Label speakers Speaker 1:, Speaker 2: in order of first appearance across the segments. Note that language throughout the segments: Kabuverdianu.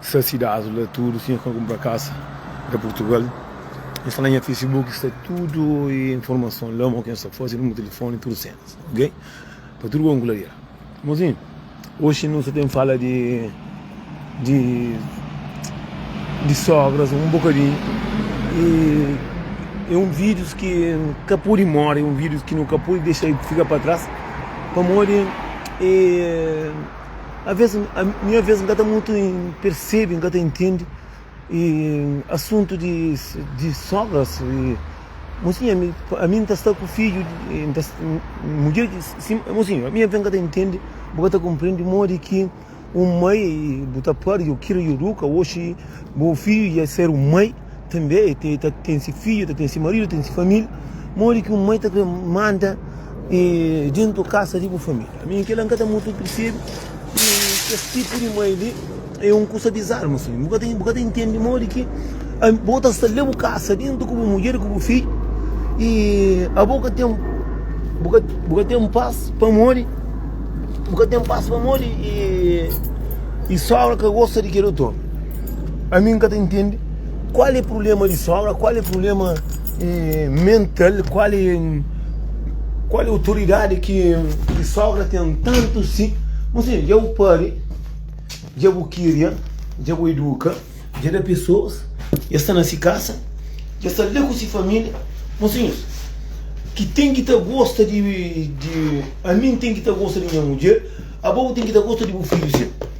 Speaker 1: Sa si da azo la tudo si nha ka compra casa da portugal nha sta na nha facebook sta tudo informaçon la mo ken sa fazi numer telefone tudo cenas ok pa tudo kon clarear mozinho hoje nu sa tem fala de de de sogras um bocadinho e e um videos ki ka podi mora e um videos ki nu ka podi dexa fica pa tras pamodi e Aves, minha vez, nunca tem muito percebe, nunca tem entende. E assunto de, de sogras, e, mocinha, mi- a mim tá está com filho, e, tá, mulher, de- sim, mocinha, a minha vez nunca tem entende, boca tá compreende, modi que um mãe, e, bu tá pari, eu quero, eu ruca, oxi, bo filho ia ser um mãe. Tanbê el ta, el ta ten se fidju, ta ten se maridu, ten se família. Modi ki un mai ta krê manda e déntu kasa di bu família? Mi kela N ka ta mutu pirsebe. I kes tipu di mai li é un kusa dizarma, sulinho. Bu ka ta, bu ka ta intende modi ki am- bo ta sta lé bu kasa déntu ku bu mudjer, ku bu fidju i abo ka ten, bu ka, bu ka ten pas pamodi, bu ka ten pas pamodi e, e sógra ka gosta di kel otu ômi. Ami nka ta intendi kual e prublema di sobra, kual e prublema mental, kual e kual e otoridadi ki di sobra ten tantu si. N sidu dja bu pari, dja bu kiria, dja bu iduka, dja da pesoas, dja sta na si kasa, dja sta la ku si familia. Mosinhus ki ten ki ta gosta di ami n ten ki ta gosta di nha mudjer, abo bu ten ki ta gosta di bu fidju si.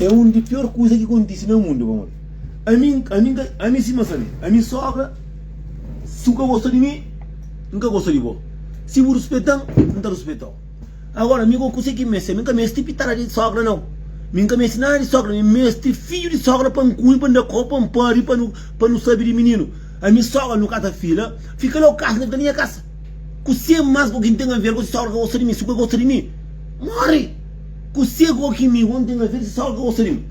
Speaker 1: É un di pior kuza ki kontise na mundu, pamodi ami, ami, ami sima sabe, ami sogra, si bu ka gosta di mi, n ka gosta di bo, si bu ruspeta-m, n ta ruspeta-u. Agora, mi gosi kuzê ki meste, mi ka meste pitara di sogra nau, mi n ka meste nada di sogra, mi meste fidju di sogra pa n kume, pa n da koba, pa n pâbi, pa nu, pa nu sabe di mininu. Ami sogra, nu kasa fila, fika la bu kasa, na fika na nha kasa. Kuzê más ku ki n ten aver ku si sogra ka gosta di mi, si bu ka gosta di mi, móre! Ku segu o ki mi onti na vidi sogra ka gosta di mi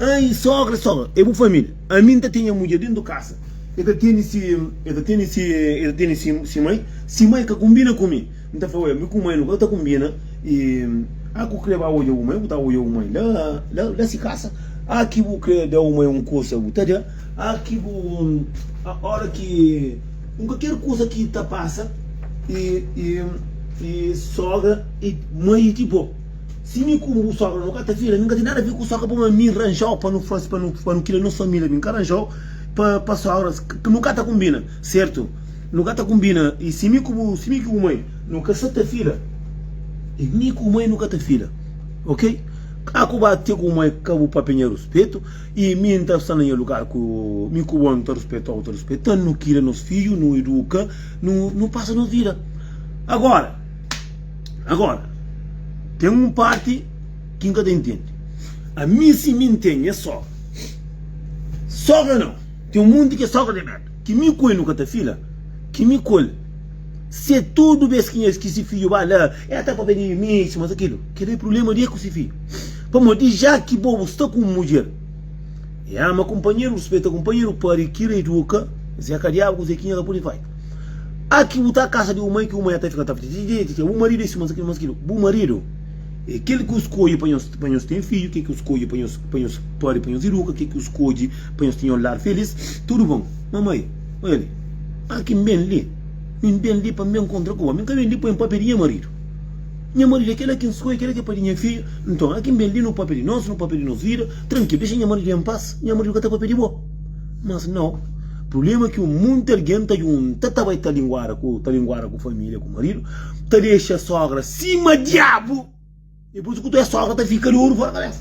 Speaker 1: ai sogra sogra e bu família ami nta tenha mudjer dentu di kasa e ta teni si e ta teni si e ta teni si si mai si mai ka kumbina ku mi nta fla oia mi ku mai nu ka ta kumbina i a ku kre ba odja bu mai bu ta odja bu mai la la la si kasa a ki bu kre da bu mai un kusa bu ta da a ki bu a ora ki. N ka ker kusa ki ta pasa i sogra i mai ti bo. Si mi ku bu sogra no ka ta fila, mi n ka ten nada fi ku sogra pamodi mi n ranjau pa nu fasi pa nu kria nos família. Mi n ka ranjau pa sogras. Nu ka ta kunbina, sertu? Nu ka ta kunbina. I si mi ku bu, si mi ku bu mai no ka sa ta fila, i mi ku bu mai no ka ta fila, ok? Ka ku ba te ku bu mai ka bu papia nha ruspetu. I mi N ta sta na nha lugar ku mi ku bo N ta ruspeta-u, ta ruspeta-m Nu kria nos fidju, nu iduka, nu nu pasa nos vida Agora, agora ten un parti ki N ka ta intende Ami si mi N ten nha sogra Sogra nau, ten un monti kes sogra di merda Ki mi ku el nu ka ta fila Ki mi ku el Se tudu bes ki nha ki se fidju ba la El ta papia di mi sima sa kilu Kel-li é prubléma di el ku se fidju Pamodi já ki bo bu sta ku un mudjer, e ama kunpanheru, ruspeta kunpanheru, pâria ki reeduka, es é kadiadu, kuzê ki nha ka pode faze? A ki bu ta kasa di un mai, ki un mai a ta fika ta fla, Titititia, bu maridu é si, mas mas kil. Bu maridu é kel ki u skodje pa nhos pa nhos ten fidju, kel ki u skodje pa nhos pa nhos pâria, pa nhos iduka, kel ki u skodje pa nhos tinha un lar filís. Tudu bon. Mamai, Oja li, a ki N ben li, mi N ben li pa N ben kontra ku bo, mi N ka ben li pa N pâpia di nha maridu. Nha maridu é kela ki N skodje, kela ki é pa di nha fidju. Nton, aki N ben li, nu pâpia di nos, nu pâpia di nos vida. Trankilu, dexa nha maridu en pas, nha maridu ka ta pâpia di bo. Mas nau, prubléma ki monti algen ta djunta, ta bai ta linguada ku ta linguada ku família, ku maridu, ta dexa sógra sima diabu. Dipôs, ku tu é sógra, ta fika di oru fóra kabésa.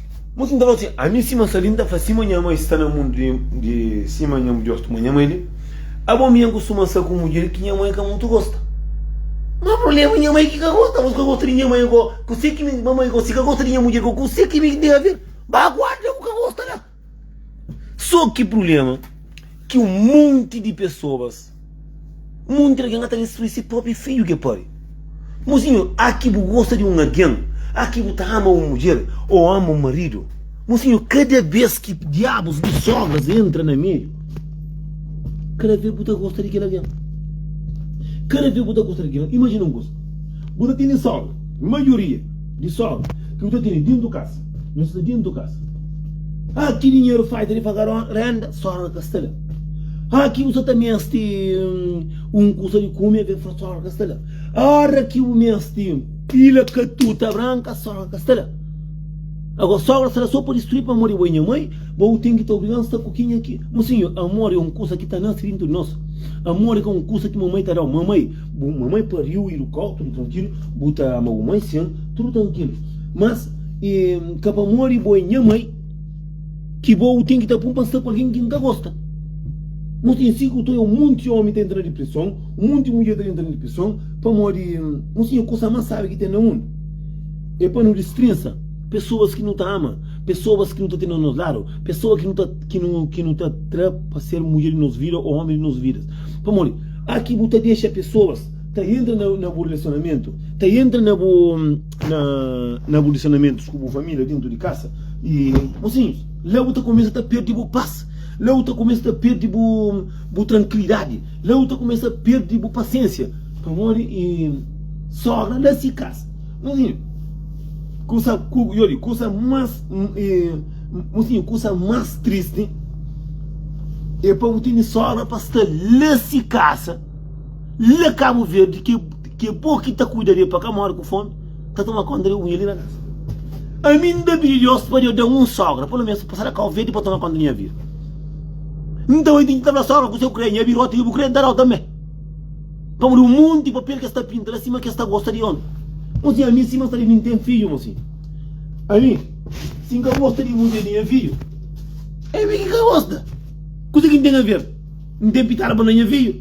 Speaker 1: Mutu nta fla si, ami sima sa li nta fla sima nha mai sta na mundu di sima nha mudjer tuma nha mai li abo mi angu suma sa ku mudjer ki nha mai ka mutu gosta ma problema nha mai ki ka gosta abos ka gosta di nha mai go kuse ki mi ma mai go si ka gosta di nha mudjer go kuse ki mi tem aver ba guarda ku ka gosta la so ki problema ki un monti di pessoas Monti di algen ka ta destrui se própi fidju ki é póbri. Mozinhu, a ki bu gosta di un algen, a ki bu ta ama un mudjer ô ama un maridu, mozinhu, kada bês ki diabus di sógras entra na meiu, kada bês bu ta gosta di kel algen. Kada bês bu ta gosta di kel algen. Imajina un kuza, bu ta tene sógra, maioria di sógra ki bu ta tene déntu di kasa, Nu sta dentu kasa. Ha, ki dinheru faci di paga renda? Sogra ka sta la. Ha, ki bu sa ta mesti un kusa di kumi? Sogra ka sta la. Ora ki bu mesti pila katuta branka, sogra ka sta la. Ago, sogra sta la so pa distrui pamodi abo e nha mai, bo bu ten ki ta obriga-m sta ku kenha ki. Mo sinhor, amor e un kusa ki ta nasi dentu di nos. Amor ka un kusa ki mamai ta da-u. Mamai, bu mamai pariu i du ka-u tudu trankilu. Bu ta ama bu mai sin tudu trankilu. Mas. Ka pa modi bo é nha mai ki bo u ten ki ta pun pa sta ku algen ki N ka gosta. Nos ten sigu ta un monti ómi ta entra na dipreson, un monti mudjer ta entra na dipreson pamodi nos tinha kusa más sábi ki ten na mundu. É pa nu dispresa pesoas ki nu ta ama, pesoas ki nu ta ten na nos ladu, pesoas ki nu ta ki nu ta tra pa ser mudjer di nos vida ô ómi di nos vidas. Pamodi? Óki bu ta dexa pesoas ta entra na bu relasionamentu, ta entra na bu. na, na bu lisanamentus ku bu família dentro de casa e mocinhos lá bu ta começa ta perdi bu paz lá bu ta começa ta perdi bu bu tranquilidade lá bu ta começa perdi bu paciência pamodi e sogra lá si casa mocinho coisa cu eu digo coisa mais e, mocinho coisa mais triste é para bu ter sogra para estar lá si casa La Kabu Verdi ke ke po ki ta kuida de pa ka mori ku fomi ta toma konta de unha li na kasa. Ami N ta pidi Deus pa Deus da-m un sogra, pelo menos pa sa da Kabu Verdi pa toma konta di nha vida. N ta bai tinti ta fla sogra ku se ku kre, nha vida ota ke bu kre N ta da-u tambe. Pamodi un monti papel ke sta pinta la sima ke sta gosta di omi. Mo si ami sima N sta di mi N ten fiju mo si ami si N ka gosta di mudjer di nha fiju, e mi ki ka gosta, kuse ki N ten ka fer? N ten pitadu bo na nha fiju,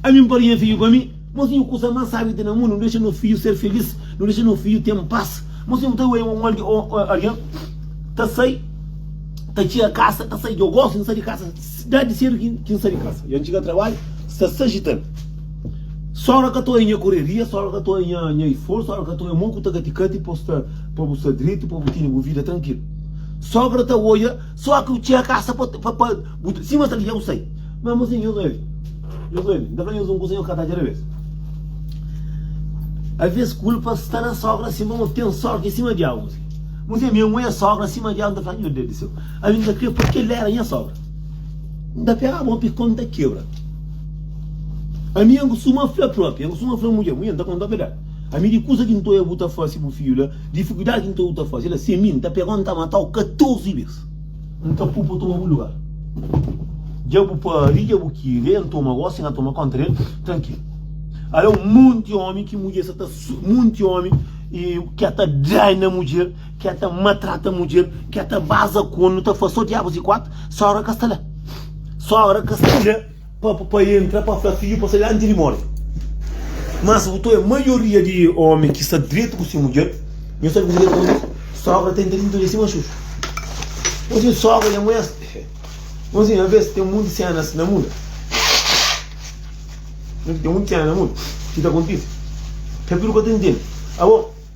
Speaker 1: ami N pârdi nha fiju pa mi. Mos tinha kusa más sábi ki ten na mundu, nu dexa nos fiju ser filís, nu dexa nos fiju ten pas. Mos tinha ta oiê un algen ta sai ta txia kasa, ta sai djogo si N sai di kasa, désdi sédu ki N sai di kasa dja N txiga trabadju sta sa ajital. Sógra ka ta oiê nha kureria, sógra ka ta oiê nha isforsu, sógra ka ta oiê mon ku ta katikati pa bu sta dritu, pa bu tene bu vida trankilu. Sógra ta oiê. Só ki bu txera kasa pa pa pa bu ta sima sa ki dja bu sai. Mé mô senhor é li. Nhos é li. N ta fla nhos un kusa nhos ka ta atxa alvês. Alvês kulpa sta na sógra sima mô ten sógra ki sima diabu mô. Mô senhor mi amo e sógra sima diabu. N ta fla nhô Deus di séu. Ami n ta kre pa kel éra nha sógra. N ta pega mô pi konta kebra. Ami n kustuma fla propi, n kustuma fla mudjer, mudjer n ta konta obedel. Ami di kusa ki nto e bu ta fase bu fidju la, difikuldadi ki nto e bu ta fase la, si e mi, nta pegau nta matau 14 bes. Nka pui pa toma bu lugar. Dja bu pari, dja bu kiri, e ntoma gosi, e na toma konta del trankil. Ala un monti omi ki mudjer sa ta monti omi ki a ta dai na mudjer, ki a ta matrata mudjer, ki a ta baza konu, ta fase so diabus e kuatu, sogra ka sta la. Sogra ka sta la. Pa pa pa entra pa fla fidju pa sai di anti di mori. Mas bu to e maioria di omi ki sta dretu ku si mudjer, nho sabi ku diretu ma nos sogra ta entra dintu di si maxuxu. Nho sin sogra nha muer Nho sin aves ten munti senas na mundu. Nho sin ten munti senas na mundu ki ta kontisi. Kapiru ka ta intendi. Abo.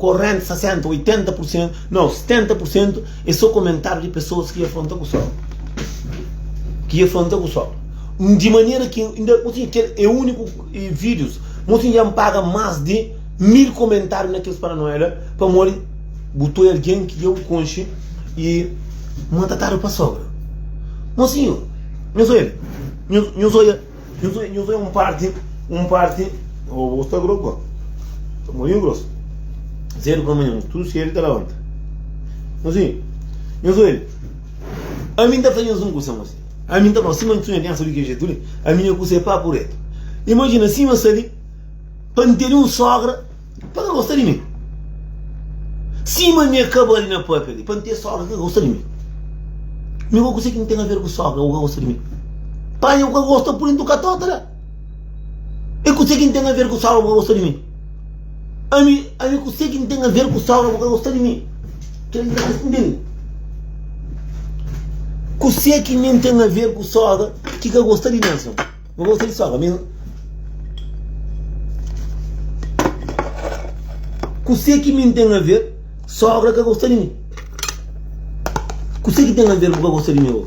Speaker 1: Korrenti 60, 80 pursentu, nau 70 pursentu e so komentáriu di pesoas ki afronta ku sol. Ki afronta ku sol. Di manera ki inda motinha kel e uniku vídius, motinha dja N paga más di mil komentáriu na kes paranoia la pamodi bu toi algen ki dja bu konxe i maltratadu pa sogra. Mosinhu, nhos oia li, nhos oia. Nhos é, nhos é un parti, un parti. Ô, bo sta grogu, ba. Ta moriu grosu. Sedu pelamanhan, tudu sedu ta labanta. Nhos é, nhos oi. Ami N ta fla nhos un kusa, mosi. Ami N ta fla, sima N sunha pensa di kel jetu li, ami nha kusa é papu retu. Imajina sima N sta li, pa N tene un sogra. Pa ka gosta di mi Sima mi e kaba li na papia li Pa N ten sogra ki ka gosta di mi Mi bo kuse ki N ten aver ku sogra bo ka gosta di mi Panha ku ka gosta pudi N tuka tóta la E kuse ki N ten aver ku sogra bo ka gosta di mi Ami ami kuse ki N ten aver ku sogra bo ka gosta di mi Kel li la ka sintende Kuse ki mi N ten aver ku sogra ki ka gosta di mi anson. Bo gosta di sogra mesmo? Kusé ki mi N ten aver sogra ka gosta di mi? Kusé ki ten aver bu ka gosta di mi ô?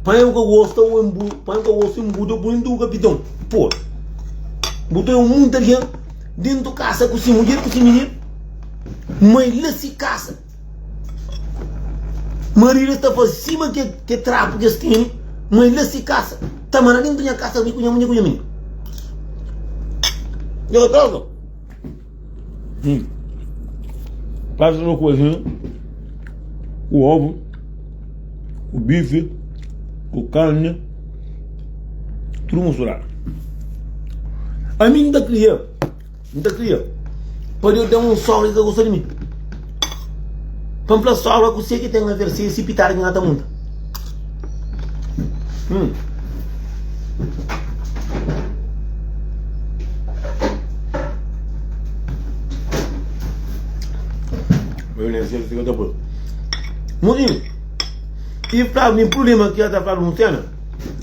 Speaker 1: Panha bu ka gosta ô N bu panha bu ka gosta ô N bu da bu tudu kapitau pô! Bu ta é un monti algen dentu kasa ku si mudjer ku si mininu mai la si kasa. Marido ta faze sima ke ke trapu kes tene ma e lase kasa ta manda nen pa nha kasa mi ku nha munhe ku nha mine. Nha ka gosta. Hum. Faze no cozinha com ovo, com bife, com carne, tudo misturado. A mim da cria N ta kria pa Deus da-m un sógra ki ka gosta di mi. Pa N fla sógra kuzê ki ten aver si es i pitada ki N ka ta munta. Hum. Eu nem sei o que eu tô por. Muzinho, e pra mim, problema que eu tava anunciando,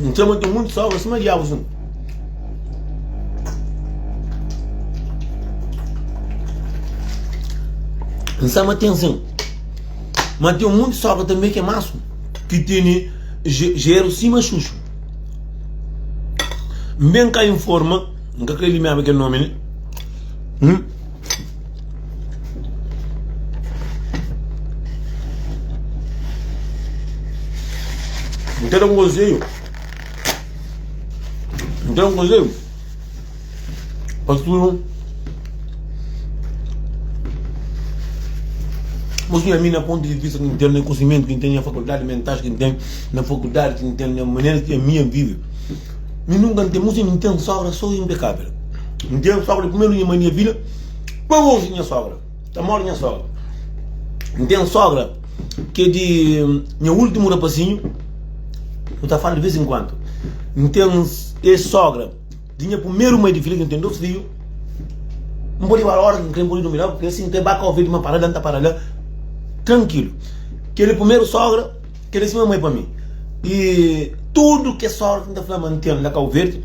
Speaker 1: N txoma ten munti sógra sima diabus un. N sa ma ten sin, ma ten munti sógra tanbe ki é más un, ki tene jeru sima xuxu. N ben ka informa, N ka krê limiaba kel nómi ne. N ta da un konsedju, N ta da un konsedju pa tudu Mos di ami na pontu di vista ki N ten, na kunsimentu ki N ten, na fakuldadi mental ki N ten, na fakuldadi ki N ten, na manera ki ami N vive. Mi nunka n ten musi, mi n ten sógra sô i inpekável. N ten sógra di primeru nha mai di nha vida, pa oji nha sógra ta mora nha sógra. N ten sógra ki é di nha últimu rapazinhu, nu ta fala di vês en kuantu. N ten es sógra di nha primeru mai di vida ki n ten dôs fidju. N pode bala óras ki n krê, n pode durmi la, pâske si n krê ba ka obi el, di ma para la, n ta para la trankilu. Kel-li primeru sógra. Kel li sima mai pa mi i tudu kes sorti nta fla ma n ten na kau verdi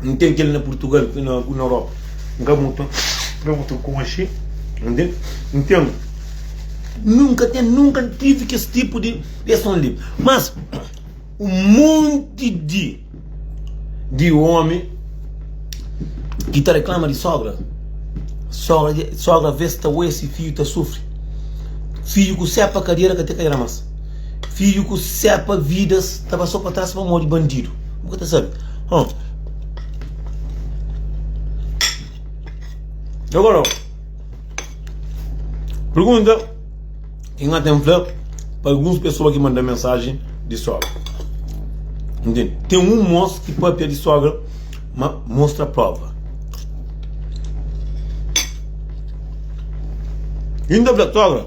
Speaker 1: n ten kel na purtugal ku na europa n ka mutu n ka mutu konxe nden n ten nunka ten nunka n tivi kes tipu di reason li mas un monti di di omi ki ta reklama di sógra. Sógra bes ta oja se fidju ta sufri. Fidju ku sepa kadiera ka ta kai la mas. Fidju ku sepa vidas ta ba so pa tras pamodi bandidu. Bu ka ta sabe. Pergunta. Ki nha ten fla pa alguns pesoa ki manda mensaji di sogra? Ntende? Ten un mos ki papia di sogra, ma mostra prova. I N ta fla sogra,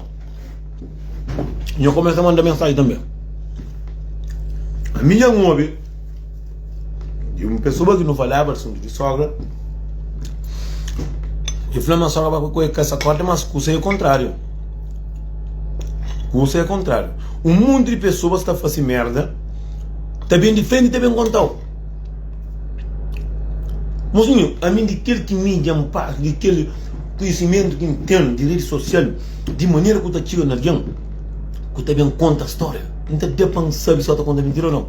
Speaker 1: nha kumesa manda mensaji tanbe. Mi dja n obi Di un pesoa ki nu falaba asuntu di sogra, e fla ma sogra pa ku e ka sa korta, mas kusa e kontráriu. Kusa e kontráriu. Un monti di pesoas ta fase merda, ta ben di frenti ta ben kontau. Mozinho, a mim di kel ki mídia n pasa, di kel konhisimentu ki n ten di redi sosial, di manera ku ta txiga na algen ku ta ben konta stória, n ta da pa n sabe si el ta konta mintira o nau.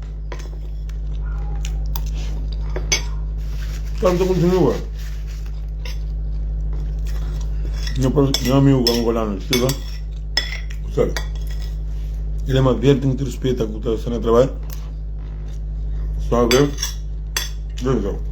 Speaker 1: Tam ta kontinua. Nha, nha amigo angolano que esteve lá, sabe? Ele é mais velho, tem que respeitar que está sendo trabalho. Só ver. Então.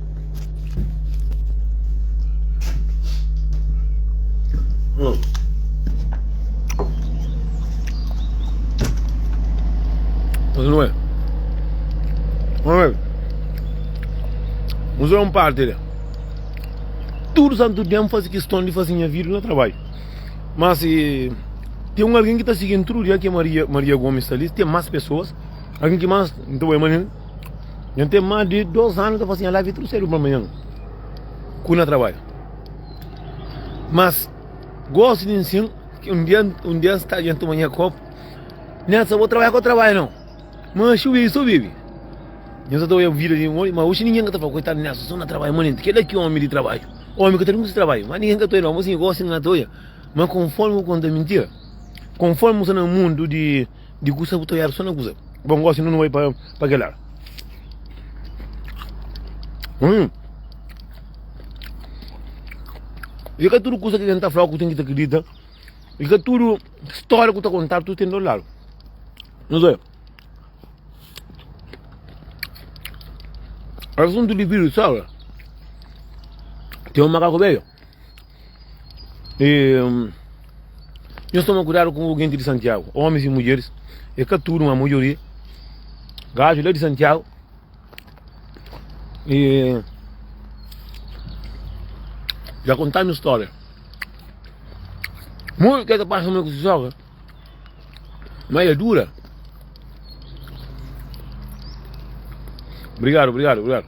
Speaker 1: Usa um parte de tudo santo dia fazer questão de fazer minha vida no trabalho. Mas se tem um alguém que está seguindo tudo dia que é Maria, Maria Gomes está ali, tem mais pessoas. Alguém que mais, então é Maria, Nhan ten más di 2 anu ta fla si nha life é tudu sedu pa manhan ku na trabadja. Mas gosi di nsin ki un dia un dia nsta dja toma nha kopu nel sa bo trabadja ko trabadja no ma xu bibi so bibi. Nhan sa ta oia vida di ma oxi ninhan ka ta fla koitadu Nelson so na trabadja ma nenti keda ki omi di trabadju. Omi ka ta nungusi trabadju ma ninhan ka ta oia no ma si gosi ninha ta oia ma konformi ku konta mintia konformi bu sta na mundu di. Di kusa bu ta oiadu so na kusa bo n gosi nu nu bai pa kel la hum i ka tudu kusa ki algen ta flau ku ten ki ta kridita i ka tudu stória ku ta kontadu tudu ten dos ladu nos oia asuntu di vidus sa ten un makaku beiu. E, nhos toma kudadu ku genti di Santiagu, omis i mudjeris, e ka tudu ma majoria, gaju la di Santiagu. E ja kontanu storia. Muitu ke ta pasa ma ku si sogra, ma e dura. Brigadu, brigadu, brigadu.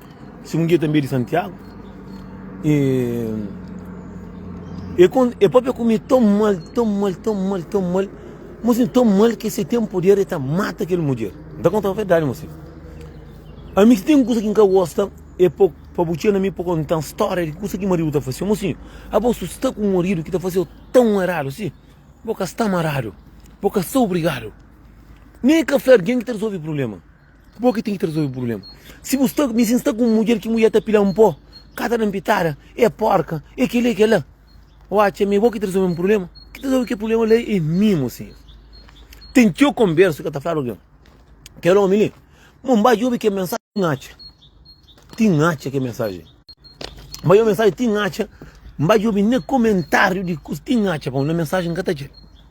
Speaker 1: Si un dia tanbê di Santiago E E kon e papia ku mi ton mal ton mal ton mal ton mal mosin ton mal ke se ten poder e ta mata kel mudjer n ta konta bo verdadi mosin ami si ten kusa ki n ka gosta e pa pa bu txeu na mi pa konta un storia di kusa ki maridu ta fasew mosin abo su sta ku un maridu ki ta fasew ton eradu si bo ka sta maradu bo ka sta obrigadu nen ka fla algen ki ta resolve problema Bo ki ten ki ta resolve problema. Si bu sta, mi si sta ku un mudjer ki mudjer ta pila-m po, ka ta da-m pitada, é porka, é kel-li, é kel-la. Ô atxa ma é bo ki ta resolve un problema? Ki ta resolve kel problema la é mi, mo sinhor. Ten txeu konbersu ki el ta fladu algen, kel ómi li, Mon, ba djobe kel mensajen, ti N atxa. Ti N atxa kel mensajen. N ba djobe mensajen, ti N atxa. N ba djobe na komentáriu di kuzê, ti N atxa. Pamodi na mensajen N ka ta atxa el.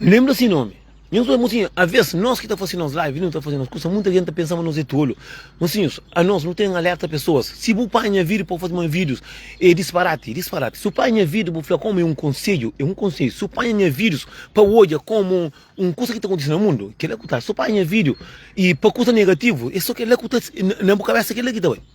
Speaker 1: Lembra si nomi. Nhos obi mosi aves nos ki ta fase nos live nu ta fase nos kusa muita gen ta pensa ma nos é tolu mosinhos a nos nu ten alerta pesoas si bu pai nha video pa fase ma videos é disparate disparate si u pai nha video bu fla komu é um konselho é um konselho si u pai nha videos pa odja komu um kusa ki ta kontise na mundu kela ku ta si u pai nha video e pa kusa negativo é so kela ku ta na bu kabesa kela ki ta bai.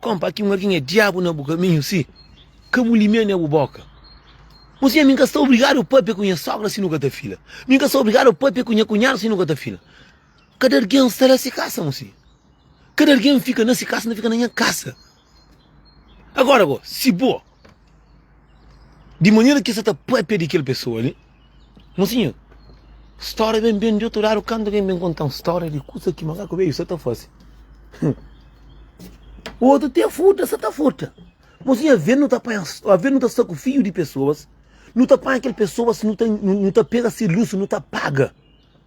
Speaker 1: Kompa aki un algin é diabu na bu kaminhu si ka bu limia ne bu boka. Bom senha mi n ka sta obrigadu papia ku nha sogra si nu ka ta fila. Mi n ka sta obrigadu papia ku nha kunhadu si nu ka ta fila. Kada algin sta na si kasa bom senha. Kada algin fika na si kasa na fika na nha kasa. Agora bo si bo di manera ki sa ta papia di kel pesoa li. Mosinhu, stória ben ben di otu ladu kantu algen ben konta-m stória di kuza ki makaku beiu sa ta faze. Otu ten furta sa ta furta. Mosinhu, alvês nu ta panha, alvês nu ta sta ku fidju di pesoas, nu ta panha kel pesoas, nu ta, nu ta pega se lus, nu ta paga.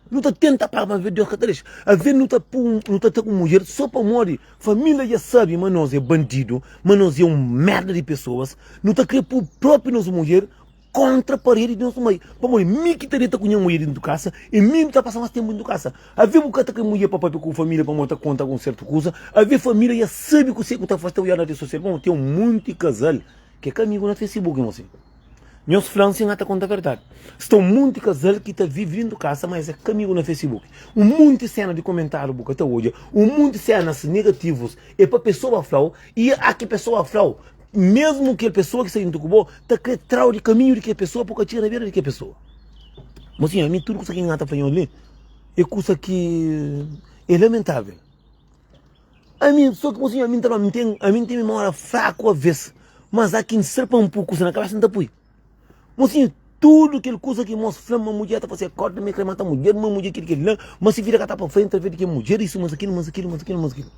Speaker 1: Nu ta tenta paga, má alvês Deus ka ta dexa. Alvês nu ta pô, nu ta sta ku mudjer sô pamodi família dja sabe ma nos é bandidu, ma nos é un mérda di pesoas, nu ta krê pô própi nos mudjer kontra paredi di nos mai pamodi mi ki ta deta ku nha mudjer dentu kasa i mi ta pasa mas ténpu dentu kasa avia bu ka ta kai mudjer pa papia ku família pamodi bu ta konta algun sertu kuza avia família ya sabi kuse ku ta fase ta oiadu na redi sosial bon ten un monti kazal ki é ka amigu na facebook mesmu asin nhos fla-m si nha ta konta verdadi si ten un monti kazal ki ta vive dentu kasa ma es é ka amigu na facebook un monti séna di komentariu bu ka ta odja un monti sénas negativus é pa pesoa fla-u i a ki pesoa fla-u. Mesmo kel pessoa ki sta junto ku bo ta kre trau di kaminhu di kel pessoa po ka txega na bera di kel pessoa. Mo sinhor mi tudu kusa ki N ta panhau li e kusa ki e lamentavel. Ami so ki mo sinhor ami N ta fla ami ten memória fraku aves mas a ki N ser pa N pui kusa na kabesa N ta pui. Mosinhu, tudu kel kuza ki mos fla ma mudjer ta fase é korda, ma el krê mata mudjer, ma mudjer kel i kel-li la, ma si vida ka ta pa frenti através di kel mudjer, isu, mas akilo, mas akilo, mas akilo, mas akilo.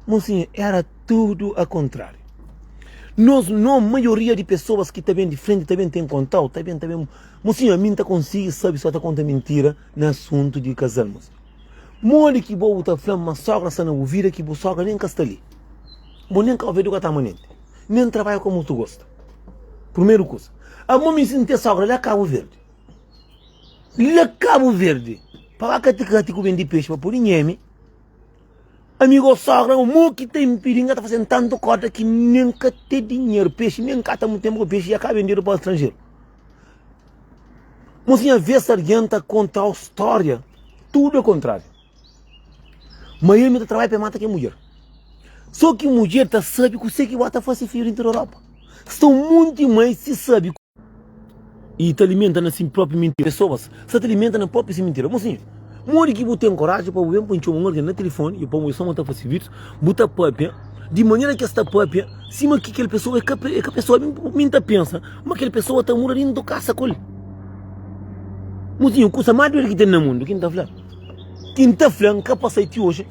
Speaker 1: Mosinhu, éra tudu akontráriu. Nos no, maioria di pesoas ki ta ben di frenti ta ben ten konta-u, ta ben, ta ben. Mosinhu, ami N ta konsigi sabe si sta ta konta mintira na asuntu di kazal, mosinhu. Modi ki bo bu ta fla-m ma sógra sta na bu vida ki bu sógra nen ka sta li? Bo nen ka obi el, bu ka ta ama nen. Mi N trabadja komu tu gosta Purmeru kusa Amor mi sinti e sogra la Kabu Verdi La Kabu Verdi Pa ba kati kati ku bendi pexi pa pudi nhemi Ami go sogra mo ki ta inpidi N ka ta fasen tantu kota ki mi N ka te dinheru pexi Mi N ka ta mu tenpu ku pexi ya ka bendedu pa stranjeru Mo si nha vez sarjenta kontrau storia Tudu e kontrariu. Miami ta trabalha pa e mata kel mudjer. Só ki mudjer ta sabe kuse ki bo ta fase fidju di inter Europa. Sta un monti mai si sabe i ta alimenta na si propi mintira. Pesoas sta ta alimenta na propi si mintira. Mosinhu, modi ki bu ten koraji pa bu ben pa ntxoma un algen na tilifoni i pa bu txoma ta fase fidju, bu ta papia di manera ki es ta papia sima ki kel pesoa e ka e ka pesoa. Mi N ta pensa ma kel pesoa ta muda di intu kasa ku el. Mosinhu, kusa ma duer ki ten na mundu ki N ta fla. Ki N ta fla, N ka pasal ti oji,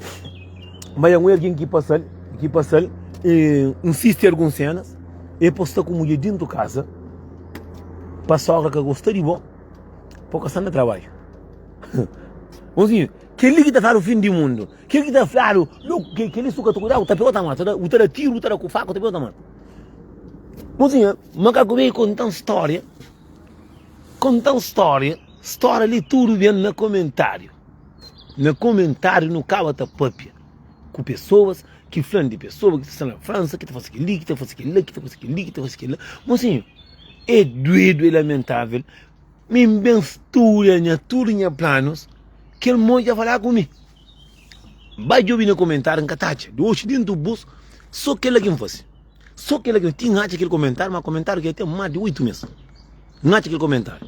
Speaker 1: ma i un algen ki pasal, ki pasal. E N sisti algun senas, e pa sta ku mudjer dentu kaza, pa sogra ka gosta di bo, pa ka sta na trabadju. Bonzinho, keli ki ta fladu fin di mundu, keli ki ta fladu keli su ka ta kudau, ta pega u ta mata, u ta da tiru, u ta da ku faku, ta pega u ta mata. Bonzinho, makaku ben i kontan storia, kontan storia. Stória li tudu ben na komentáriu Na komentáriu nu kaba ta pâpia Ku pesoas ki fla-m di pesoas ki ta sta na Fransa Ki ta faze kel-li, ki ta faze kel-la, ki ta faze kel-li, ki ta faze kel-la Mosinhu, é duedu, é lamentável Mi N ben studia nha tudu nha planus Kel mô dja fala ku mi Ba djobe na komentáriu, N ka ta atxa Di oxi déntu bus, sô kel-la ki N faze Sô kel-la ki N faze Ti N atxa kel komentáriu, má komentáriu ki é ten más di oitu mês N atxa kel komentáriu.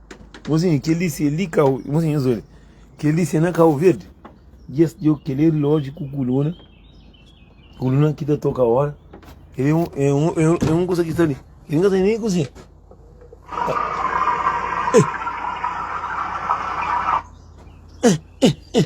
Speaker 1: Mozinho, kel li se li kau... Mozinho, nhos odja. Kel li se na Kau Verdi. Yes, djo, kel-li é rilódju ku kuluna. Kuluna ki ta toka óra. Kel-li é un, é un, é un, é un kusa ki sta li. Kel-li N ka ten nen kuzinha. Êh! Êh! Êh! Êh!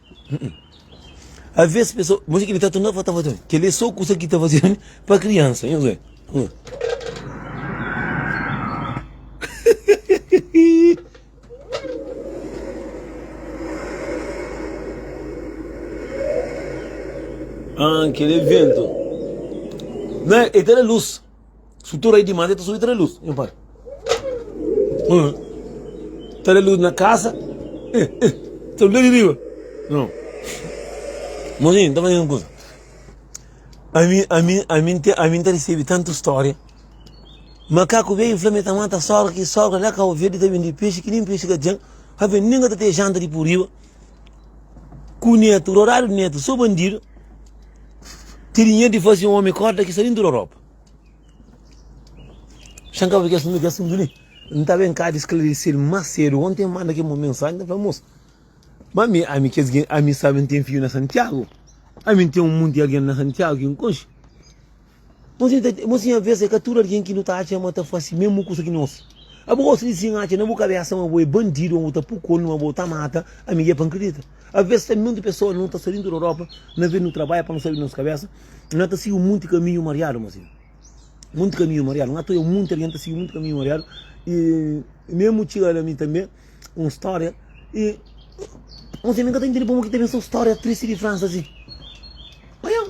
Speaker 1: A vez pessoa, mas que ele tá tendo para tá fazendo, que ele só coisa que tá fazendo para criança, hein, Zé? Ah, aquele vento, né? Ele tá na luz. Si tu rai dimas, el ta subi ta da lus. Nha pai. Hum. Ta da lus na kasa. Eh, eh. Ta lus di riba. Não. Mozinho, tá fazendo coisa. A mim, a mim, a mim, a mim tá recebendo tanta história. Macaco veio, Flamengo tá mata, sogra aqui, sogra lá, cá, o verde tá vindo de peixe, que nem peixe que tem. Rapaz, ninguém tá tendo janta de por riba. Ku netu, roradu netu, so bandidu Ti dinheru di fazi un omi korda ki sta dintu da ropa Xan ka bai kes nunde ki asuntu li N ta ben ka di sklarisil mas sedu Onti N manda kel mon mensaji N ta fla mos ma mi ami kes gen ami sabi N ten fiu na Santiagu ami N ten un munti algen na Santiagu ki N konxi. Mas N ta, mas nha vez é ka tudu algen ki nu ta atxa ma ta fase mésmu kusa ki nos. Abo gosta di sin atxa na bu kabésa ma bo é bandidu, ma bo ta puku omi, ma bo ta mata ami i é pa N kridita. Aves tanbê otu pesoas, nu ta sta dentu di Europa, na ve nu trabadja pa nu sai di nos kabésa, na ta sigi un monti kaminhu mariadu. Mas é monti kaminhu mariadu, N atxa monti algen ta sigi monti kaminhu mariadu. I mésmu txiga na mi tanbê un stória, i mas mi ka ta intende pamodi ki ta ben sta un stória tristi di Fransa asin. Oiá!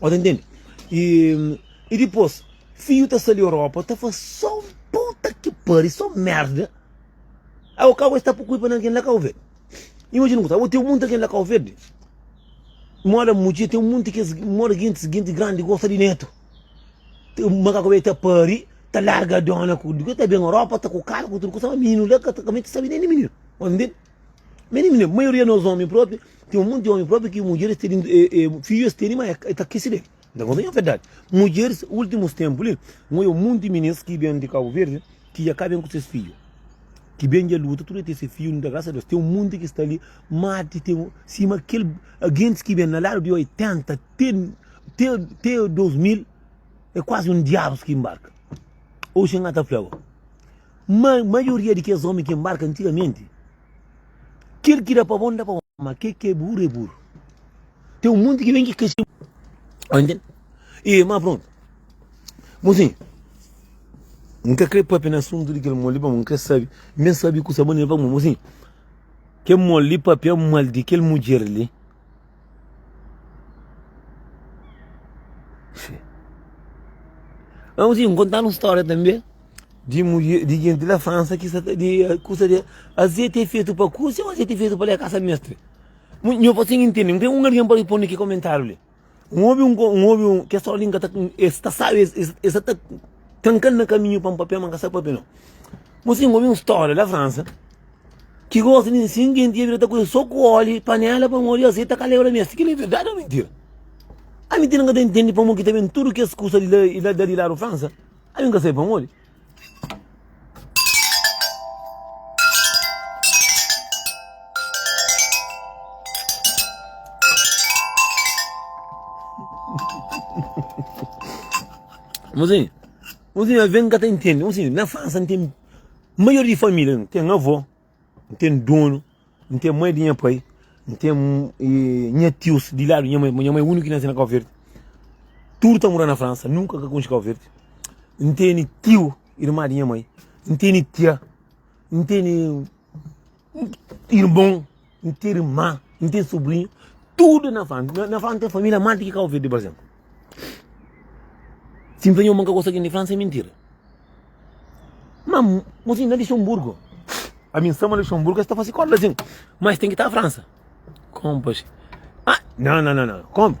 Speaker 1: Ó, tá entende? E, e depois, fio tá sali Europa, tá faz só puta que pariu, só merda. Aí o carro está por cuipa naquele lá Cabo Verde. Imagina que tá, tem um monte aquele lá Cabo Verde. Mora Mugi, tem um monte que mora gente, gente grande, gosta de neto. Tem um macaco que tá pari, tá larga a dona, que tá bem Europa, tá com o carro, com tudo, com o menino lá, que tá com a mente, sabe nem de menino. Entende? Meni mine, maioria nos omi propi, ten un monti omi propi ki mudjeris tene, e, e, fidju es tene, ma e ta kisi del. N ta konta nha verdadi. Mudjeris, ultimus tempu li, N oja un monti minis ki ben di Kabu Verdi, ki dja ka ben ku ses fidju, ki ben dja luta, tudu el ten se fidju, N da grasa a Deus. Ten un monti ki sta li, ma ti ten, sima kel gentis ki ben na ladu di 80 te, te, te 2000, e kuazi un diabus ki mbarka. Oxi N ka ta fla bo. Má, maioria di kes ómi ki enbarka antigamenti, kel ki da pa bon, da pa bon, má kel ki é buru, é buru. Ten un monti ki ben ki kase. Sta intende? E, má prontu. Bo sin, N ka krê pâpia na asuntu di kel mol li, pamodi N krê sabe, N ben sabe kusa bô. N fla bo sin, Kel mol li pâpia mal di kel mudjer li, Amo si kontan un storia tanbe di mulher di gente la França ki sa ta di kusa di azeite é feito pa kusi ou azeite é feito pa la casa mestre nho pa sem intende não tem um alguém para responder ki comentário li um obi um um obi um ke só linka ta es ta sabe es ta trankando na caminho pa um papia mas ka sabe papia não mo sim obi um storia la França Ki gosi nin sin genti ia bira ta kume so ku oli, panela, pamon, oli, azeti ta ka leba la mesa. Kila é verdadi o mintira? A mintira n ka ta intendi pamon ki ta ben tudu kes kusa di la, la di ladu Fransa. Ami n ka sai pamodi. Mozinho, mozinho, a ben n ka ta intendi. Mozinho, na Fransa n ten. Maioria di família nu ten avó, nu ten donu, nu ten mai di nha pai, nu ten nha tius di ladu nha mai, nha mai úniku ki nase na Kau Verdi. Tudu ta mora na Fransa, nunka ka konxe Kau Verdi. N tene tiu, irma di nha mai, n tene tia, n tene. Irmon, n ten irmã, n ten sobrinhu, tudu na fla-m. Na fla-m ten família más di ki Kau Verdi, pa izénplu. Si N fla nhos ma N ka gosta di kel-li, N fla-m se mintira. Má mos inda na Lixenburgu. Ami N sta ma Lixenburgu es ta fase kódja lazin. Má es ten ki ta Fransa. Kónpa xe. Aa, nau-nau-nau-nau, kónpa.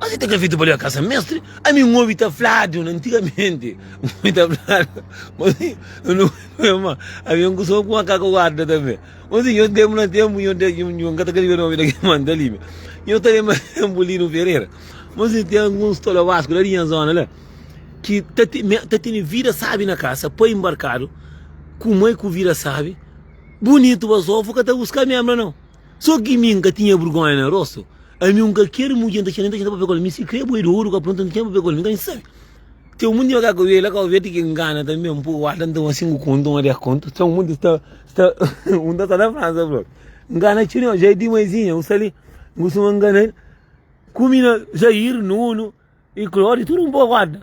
Speaker 1: Mas e ta ka fetu pa leba kasa mestre? Ami N obi ta fladu na antigamente N obi ta fladu ma si N na obi pabia ma avia un kuson ku makaka guarda tambe ma si nho tenpu na tenpu nho ta nho N ka ta ka riba nomi da kel manta li me nho ta lenbra tenpu Lino Ferreira ma si ten alguns tolobasku la di nha zona la ki ta tene ta tene vida sabi na kasa pai mbarkadu ku mai ku vida sabi bunitu basofo ka ta buska mi hembra nau. So ki mi nka tinha burgonha na rosto Ami nka kere mudje nta txela nta txela papel kol Mi sikrê boi di oru ka pronta nta txela papel kol Mi ka nxe sabe Txeu munde ma ka kawê la kawê ti ki ngana tanbe Un poku wata nta un sinku kontu un dés kontu Txeu munde sta sta un nta sta na Fransa bro Ngana txeu dimás Jardim Maizinha un sta li N kustuma ngana ku mi na Zaire nunu. E kula, Odi, tudu N bogorda,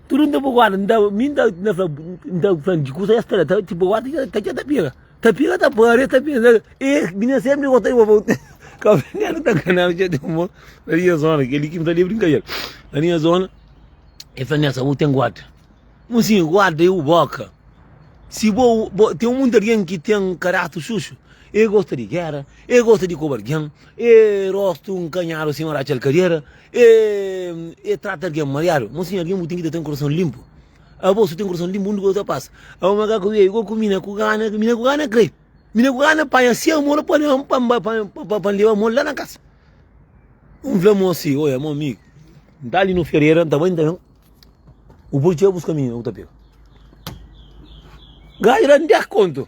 Speaker 1: tudu N ta bogorda, N ta, mi N ta, N ta fla, N ta fla di kusa es ta da, ta ti bogorda ta ta txeu ta pira, ta pira ta para, es ta pensa, e mi na sempri gostá di bo pa bu ten, Cabo Delgado ta ngana-m txeu ten mon, na nha zona, kel-li ki N fla li é brinkader, na nha zona e fla Nessa, bu ten gorda, N fla, Sim, gorda é bu boka, si bo, bo, ten monti algen ki ten karater suxu, e gosta di gera, e gosta di koba algen, e rostu nkanhadu sima da txalkadera, E, e trata algen mariadu. Monsinho, algen bu tem que ter um coração limpo. A bolsa tem um coração limpo, onde que eu passo? A uma gaca eu igual com mina com gana, mina com gana crê. Mina com gana panha se amor para levar para para para levar amor lá na casa. Um vê moço, olha, meu amigo, tá ali no Ferreira, tá bem, então. O polícia busca mina, o tapeu. Gajo lá não dá conta.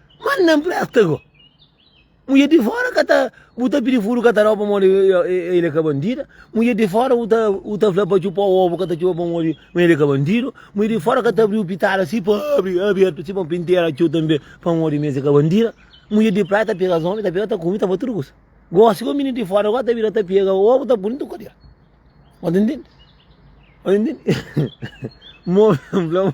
Speaker 1: Manda na empresta go. Mulher de fora ka ta bu ta pedi furu ka ta dau pamodi ele é ka bandida. Mulher de fora u ta u ta fla pa txupa ovu ka ta txupa pamodi ma ele é ka bandidu. Mulher de fora ka ta abriu pitada si pa abri abertu si pa pintera txu tanbe pamodi ma es é ka bandida. Mulher de praia ta pega as omi ta pega ta kume ta ba tudu kusa. Gosi go minidus de fora go ta bira ta pega ovu ta puni tudu kadera. Bo ta ntende? Bo ta ntende? Mo fla mo.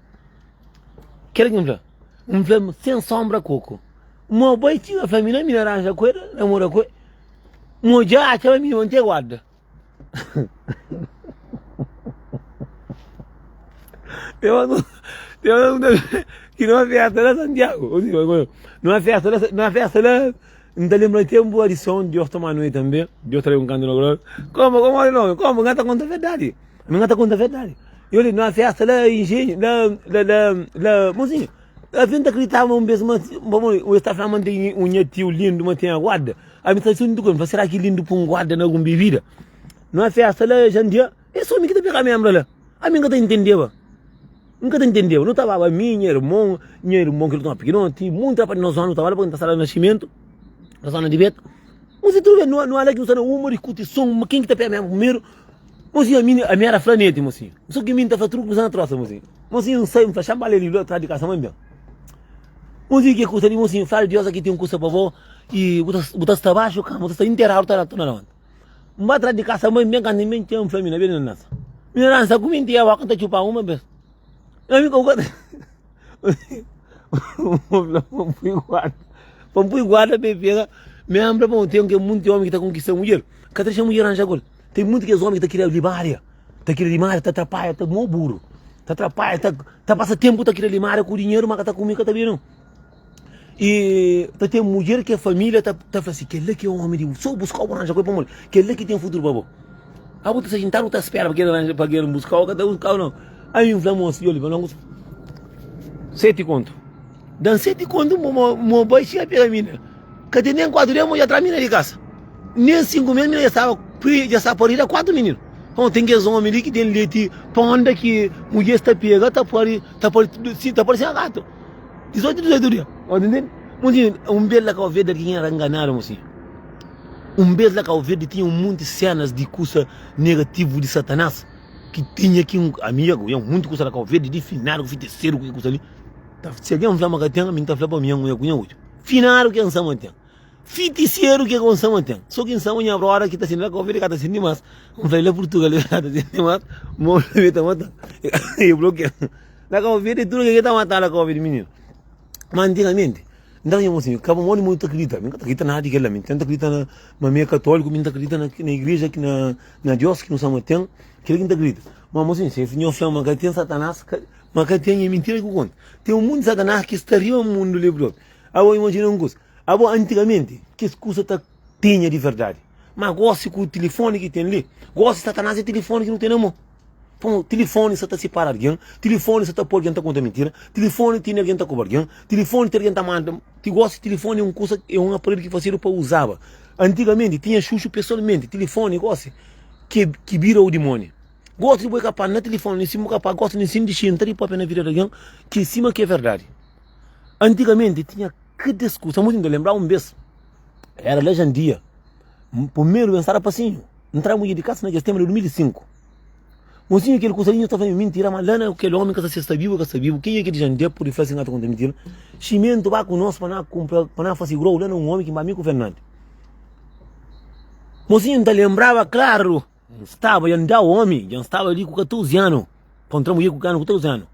Speaker 1: Kel ki mfla, mfla sen sombra koko. Mo bai ti a flamina mi na ranja ku ela, na mora ku ela. Mo ja a txaba mi na mantega wada. Eu não, eu não, que não é festa, né, Santiago? Não é festa, né? Não é festa, né? N ta lenbra tenpu di adison, di ora ta ma nui tanbe, di ora ta leba un kantu na koral, Konba, konba di nomi, konba, nga ta konta verdadi, nga ta konta verdadi. Yo li numa festa la Injenhu, la, la, la, la Monsinhu, afe N ta kriditaba ma un bes ma si, ma bo, es ta flama ma N ten un nha tiu lindu, ma ten aguarda. Ami ta sintu ku el, mi fala, sera ki lindu ku un guarda na algun bebida? Numa festa la Jandia. Es omi ki ta peka mem la. Ami nka ta intendeba. Nka ta intendeba. Nu ta baba ami, nha irmon, nha irmon ki nu toma pikinoti, monti rapaz di nos zona nu ta bala pakinda sala nasimentu, na zona di beta. Mos introdu el, nu ala ki nu sta na uma di kutisom, ma ken ki ta peka mem primeru. Mosi ami, ami era flaneti mosi. Sô ki mi nta fla tudu kuza na trosa mosi. Mosi N sai, N fla xanba la li la tras di kasa ma N ben. Mosi ke kusa li mosi, fla Deus aki ten kusa pa bo i bu ta sta baxu kama, bu ta sta interadu ta na levanta. N ba tras di kasa mai, N ben kanta, N ben txeu, N fla mi, na bira na nasa. Mi na nasa ku mi nti ewa, ku N ta txupa uma bes. Ami ka bu ka ta. Uma fla, pa N pui guarda. Pa N pui guarda pa e pega. Mi ami fla pa un ten ke munti omi ki ta konkista mudjer. Ka ta dexa mudjer ranja ku el. Ten munti kes omi ki ta kria limaria, ta kria limaria, ta trapaia, ta mo buru, ta trapaia, ta ta pasa tempu ta kria limaria ku dinheru, ma ka ta ku mi ka ta ben no. E ta ten mudjer ke família ta ta fla si, kel-la ki é ómi di bu, so buska-u, bu aranja kué pamodi kel-la ki ten futuru pa bo. Aba bu ta sta xintadu, bu ta spera pa kel aranja, pa kel buska-u, el ka ta buska-u nau. Ai mi fla mosi, djoli, pa no almosa, seti kontu, da-m seti kontu bo mo mo bai txiga pega mina. Ka ten nen kuatu dia, mo dja tra mina di kasa. Nen sinku mes, mina dja staba pri, dja sta parida kuatu mininu. Nton, ten kes ómi li ki ten leti, pónda ki mudjer sta pega, ta pari, ta pari, ta pari sima gatu. 18 di 18 dia Ó ta intende? Monsinho, un bes la Kauverdi algin era nganadu monsinho. Un bes la Kauverdi tinha un monti senas di kusa negativu di Satanas ki tinha ki un, ami ya ku ya un monti kusa la Kauverdi di finadu ku fiteseru ku ki kusa li. Ta si algin fla ma ka ten, ami N ta fla pa mi ya ku ya ku ya otxu. Finadu ke N sa ma ten. Fitiseru ke ku N sa ma ten. So ki N sa ma nha broda ki ta sindi la Kauverdi ka ta sindi mas. N fla el la Purtugal el ka ta sindi mas, ma un dia el ta mata-m. E blokea. Na ka ouvia de tudo que ta mata na ka ouvia de menino ma antigamente nta nha mocinho ka modi modi ta credita mi ka ta credita nada de kela mi nta credita na ma mi é católico mi nta credita na na igreja ki na na Deus ki nu sa ma tem kila ki nta credita ma mocinho se nhos fla ma ka tem satanas ka ma ka tem é mentira ku konta tem um mundo de satanas ki sta riba mundo li próprio abo imagina um coisa abo antigamente kes coisa ta Tenha di verdade. Má gósi ku tilifóni ki ten li, gósi Satanás é tilifóni ki nu ten na mô. Pô, tilifóni sa ta sipara algen, tilifóni sa ta pô algen ta konta mintira, tilifóni tene algen ta koba algen, tilifóni ten algen ta manda. Ti gósi tilifóni é un kusa, é un aparelhu ki fasedu pa uzaba. Antigamenti tinha xuxu pesoalmenti, tilifóni gósi ki é ki bira un dimóni. Gósi di bo é kapaz na tilifóni li, si bo kapaz gósi li sin dixi entra di pâpia na vida di algen ki sima ki é verdadi. Antigamenti tinha kada es kusa. Mô, ti nu ta lenbraba un bês Era la jandia. Primeru ben sara pasinhu. Ntra mudje di kasa na kes tenba di 2005. Mosinhu kel kusalinhu ta fla-mi, Mintira, ma la na kel omi ka sa si es ta bibu o ka sta bibu. Ken é kel jandia pa pudi fla si N ka ta konta mintira? Ximentu, ba ku nos pa na kunpra, pa na fase grou la na un omi ki mi ku Fernandi. Mosinhu N ta lenbraba klaru, N staba dja N da omi, dja N staba li ku 14 anu, pa N tra mudje ku 14 anu.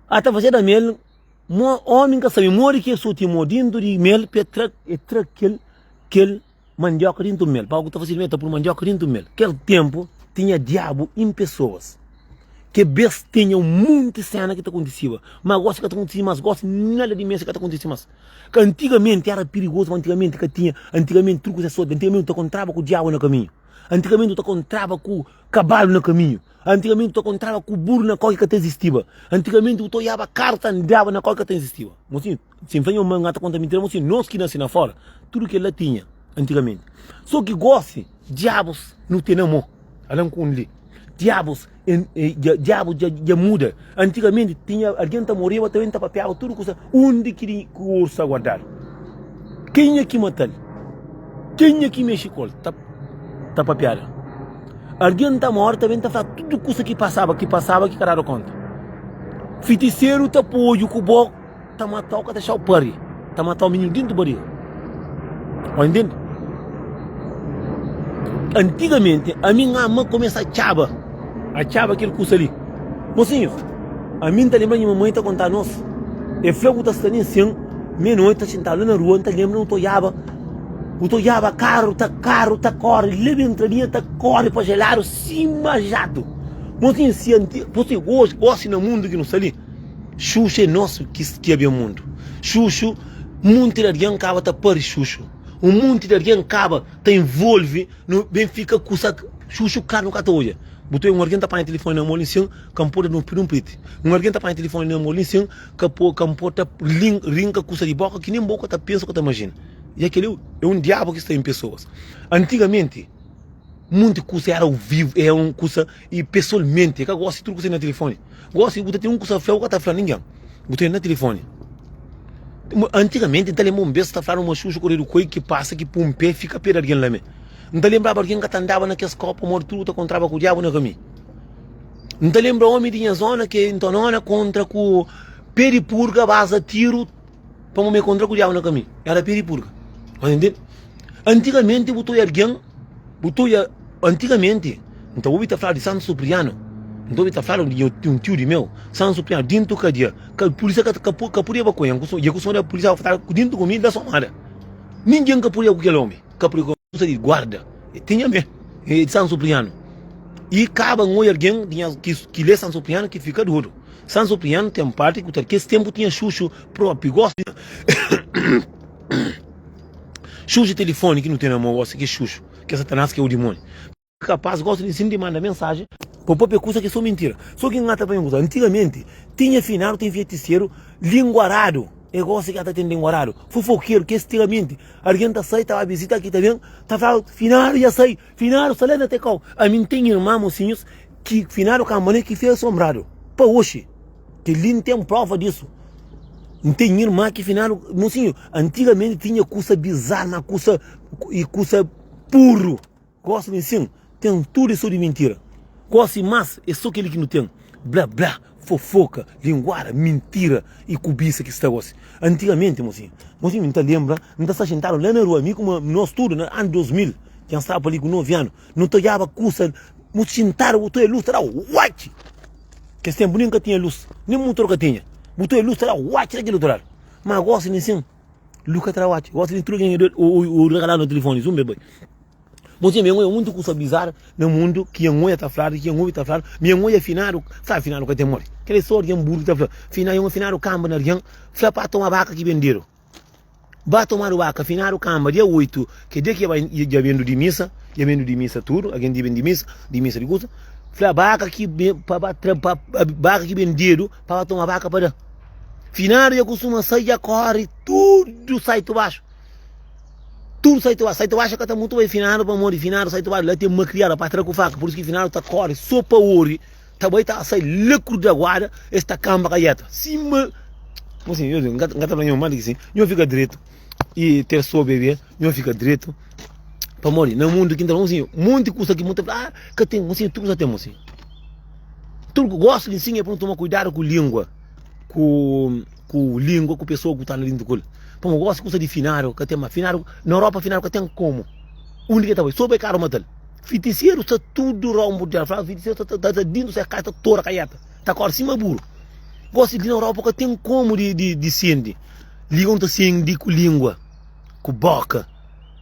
Speaker 1: Ata fazeba mel. Mo, homem ka sabe modi ki e soti mo dintu di mel pe tra, e tra kel, kel mandioka dintu mel. Pa o ku ta fasi di mel e ta pul mandioka dintu mel. Kel tempu tinha diabu in pesoas. Ke bes tinha un munti sena ki ta kontisiba. Ma gosi ka ta kontisi mas. Gosi nada di mesi ka ta kontisi mas. Ka antigamenti era pirigosu, ma antigamenti ka tinha, antigamenti tudu kusa e soti. Antigamenti u ta kontraba ku diabu na kaminhu. Antigamenti u ta kontraba ku kabalu na kaminhu. Antigamente bu ta kontraba ku buru na kau ki ka ta izistiba. Antigamente bu ta oiaba karu ta andaba na kau ki ka ta izistiba. Mosin, si N fla nha ma N ka ta konta mintira, mosin, nos ki nase na fora, tudu kel-la tinha antigamente. So ki gosi, diabus nu ten amo. Alan Kunle. Diabus, en, e, dja, diabu dja, dja muda. Antigamente tinha alguém ta morreva também ta papeava tudo coisa onde que ele que o urso aguardar quem é que matal quem é que mexe com ele ta ta papeada alguém ta morre também ta falar tudo coisa que passava que passava que cada conta feiticeiro ta pôde com boca Ta matau ka ta xau pari ta matau minhu dintu bariga o intendi antigamente ami nha ma começa txaba a txaba kel kusa li mosinhus ami nta lembra nha mamai ta conta nos e fla ku ta sta nen sen mei noite ta sentau la na rua nta lembra no ta olhaba no ta olhaba carro ta carro ta corre la bem entradinha ta corre pa gelado sima jado mosinhus si anti gosi gosi na mundo ki no sta li. Xuxu é nosu ki skiabe un mundu xuxu Munti di algen kaba ta pari xuxu Un munti di algen kaba ta involvi nu Ben fika ku sa xuxu kar nu ka ta odja Bu ta oiu un algen ta panha tilifoni na mo li nsin Ka N poda pidi un priti Un algen ta panha tilifoni na mo li nsin Ka po ka N poda rinka kusa di boka ki nen bo ka ta pensa u ka ta majina Ya kel-li é un diabu ki sta en pesoas Antigamenti munti kusa éra au vivu éra un kusa. E pesolmenti e ka gosta di tudu kusa na tilifoni. Gosi bu ta tene un kusa fla, bu ka ta fla ningen. Bu tene na tilifoni. Antigamenti N ta lenbra un bes ta fladu ma xuxu koredu koi ki pasa ki pun pe fika pe di algin la me. N ta lenbraba algin ka ta andaba na kes kau pamodi tudu ta kontraba ku diabu na kami. N ta lenbra omi di nha zona ke N ta nona kontra ku pe di purga baza tiru pamodi me kontra ku diabu na kami. Era pe di purga. Antigamenti bu ta oi algin. Bu ta oia, antigamente, N ta obi ta fala di Santu Supriano, N ta obi ta fala di un tiu di meu, Santu Supriano, dintu kadia, ka pulisia ka ka ka pudia ba ku el, N ia ku son di el, pulisia fala ku dintu ku mi, da somada, ningin ka pudia ku kel omi, ka pudia ku forsa di guarda, e tinha me, e di Santu Supriano, i kaba N oia algin tinha ki ki le Santu Supriano ki fika dodu, Santu Supriano ten parti ku ta, kes tenpu tinha xuxu propi, gosi. Xuxa telefoni ki nu ten na mô gosi, ki xuxu, ki é Satanás, ki é o dimoni. Ki kapaz gosi di insina di manda mensaji pa papia kusa ki é so mintira. So ki ngata panha un kusa, antigamenti tinha finadu, ten fietiseru, linguaradu, é gosi ki ata ten linguaradu, fofokeru, ki é stiramenti, algen ta sai ta ba bizita ki ta ben ta fladu finadu dja sai. Finadu sta lenta te kau. Ami n ten irman mosinhus ki finadu kanbane ki fia sonbradu pa oxi. Kel li n ten prova disu. N ten irman ki finadu mosinhu antigamenti tinha kusa bizar ma kusa i kusa burru. Gosi mi sin ten tudu e so di mintira. Gosi mas e so kel ki nu ten. Bla bla. Fofoka, linguada, mintira e kubisa ki sta gosi. Antigamente, mosinhu, mosinhu mi ta lembra, mi ta sta xintadu la na rua, mi ku ma, nos tudu na anu 2000, ki an staba pa li ku 9 anu, no ta odjaba kusa, bu xintadu, bu ta oia lus, ta daba uatchi! Kes tempu nen ka tinha lus, nen mutor ka tinha, bu ta oia lus ta da uatchi la kel otu ladu. Ma gosi nen sen, lus ka ta da uatchi, gosi nen tudu algen oiu, oiu, oiu, ta kala na telefoni, zumbe bai. Bo txia, mi angoia mundu kusa bizar na mundu ki angoia ta fladu, ki angovi ta fladu, mi angoia finadu, sabi finadu ka ten mori, kel e so arian buru ki ta fla, fina yoma finadu kamba na arian fla pa toma baka ki bendedu, ba tomadu baka finadu kamba dia 8 ke dia ki bai dja bendu di misa, dja bendu di misa tudu, algen dja bendu di misa, di misa di kusa, fla baka ki be pa ba tra pa baka ki bendedu pa ba toma baka pa da, finadu dja kustuma sai dja kori tudu sai tu baxu. Tudo sai tu sai tu acha que tá muito bem finado para morrer finado sai tu acha tem uma criada para trazer com faca por isso que finado tá corre só para ouro tá bem tá sai louco da guarda esta camba caieta cima como assim eu não gato gato não manda assim eu fica direito e ter só bebê eu fica direito para morrer no mundo que então assim muito custa que muito ah que tem assim tudo já tem assim tudo que gosta de ensinar é para tomar cuidado com língua ku ku língua ku pessoa ku tá na dentro kul pa mo gosta kusa di finário ka tem ma finário na Europa finário ka tem como undi ke ta bai so bai caro matal fiticieiro está tudo rombo dela fala fiticieiro está tá tá dentro se casa tora caiata tá corre cima buro gosta di na Europa ka tem como di di di sendi língua não ta sendi ku língua ku boca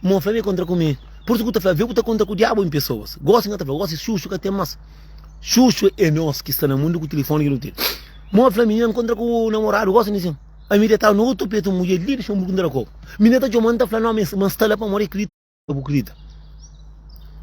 Speaker 1: Mo fla mi kontra ku mi. Pur isu ku ta fla, vê ku ta kontra ku diabu en pesoas. Gosi N ka ta fla, gosi xuxu ka ten mas. Xuxu é nos ki sta na mundu ku tilifoni ki nu ten. Mo fla mi, N na kontra ku namoradu gosi ni sin. Ami detau na otu petu mudjer li di Xamburgu N ta da kobu. Mi na ta txomau N ta fla, no, ma N sta la pamodi krita bu krita.